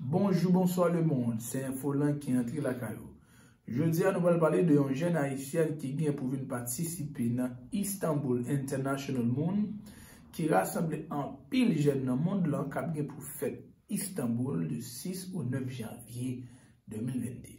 Bonjou bonswa le mond, se Infolan ki antre lakay ou. Jodi a nou pral pale de yon jèn ayisyèn ki gen pou vin patisipe nan Istanbul International Moon ki rasanble anpil jèn nan mond lan kap gen pou fèt Istanbul de 6 ou 9 janvye 2022.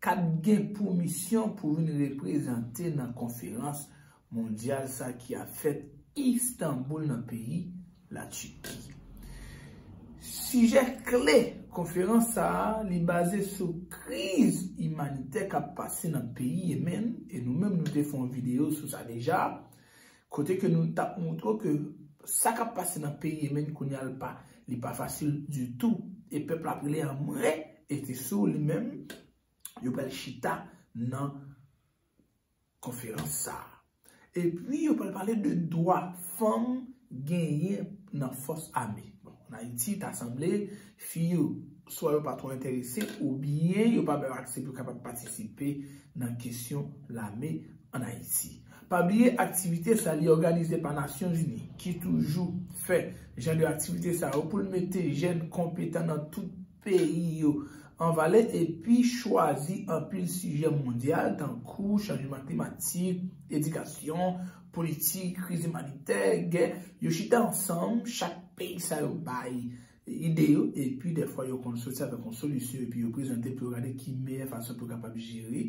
K ap gen pou misyon pou vin reprezante nan konferans mondyal sa ki ap fèt Istanboul nan peyi La Turki. Sijè kle konferans sa a li baze sou kriz imanitè k ap pase nan peyi Yemen e nou menm nou te fè yon videyo sou sa deja. Kote ke nou tap moutre w ke sa kap pase nan peyi Yemen kounye a li pa li pa fasil ditou e pèp la ap rele an mren e se sou li menm yo pral chita nan konferans sa a. Epi yo pral pale de dwa fanm genyen nan fòs ame. Bon, an Ayiti ta sanble fi yo swa yo pa twò enterese oubyen yo pa bay yo aksè pou yo kapab patisipe nan kesyon lame an Ayiti. Pa bliye aktivite sa li òganize pa Nasyon Zini ki toujou fè jan de aktivite sa yo pou l mete jèn konpetan nan tout peyi yo an valè epi chwazi anpil sijè mondyal tankou chanjman klimatik, edikasyon, politik, kriz imanitè, gè. Yo chita ansanm, chak peyi sa yo bay ide yo epi dèfwa yo konn soti avèk yon solisyon epi yo prezante pou yo gade ki meyè fason pou yo kapab jere.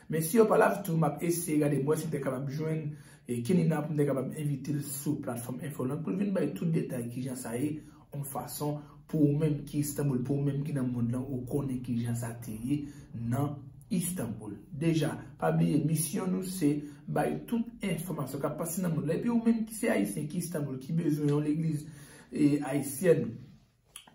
Mesye yo pa la ditou map eseye gade bwè sim te kapab jwenn Kenny nan poum te kapab envitel sou platfòm Infoland poul vin bay tout detay kijan sa ye on fason pou ou menm ki Istanbul pou ou menm ki nan mond lan ou konnen kijan sa te ye nan Istanbul deja pa bliye misyon nou se bay tout enfòmasyon kap pase nan mond lan epi ou menm ki se ayisyen ki Istanbul ki bezwen yon legliz ayisyèn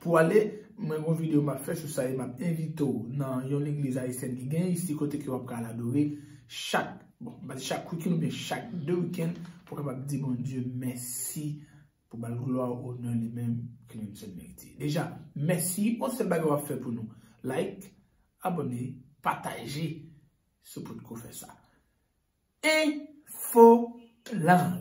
pou ale, mwen gon video map fè sou sa e map envite w nan yon legliz ayisyèn ki genyen isi kote ke wap ka al adore chak, bon m pa di chak weekend oubyen chak 2 weekend pou kapab di Bondye mèsi pou bal glwa, onè li menm ke li menm sèl merite. Deja, mèsi, yon sèl bagay wap fè pou nou, like, abone, pataje si w potko fè sa. Infolang.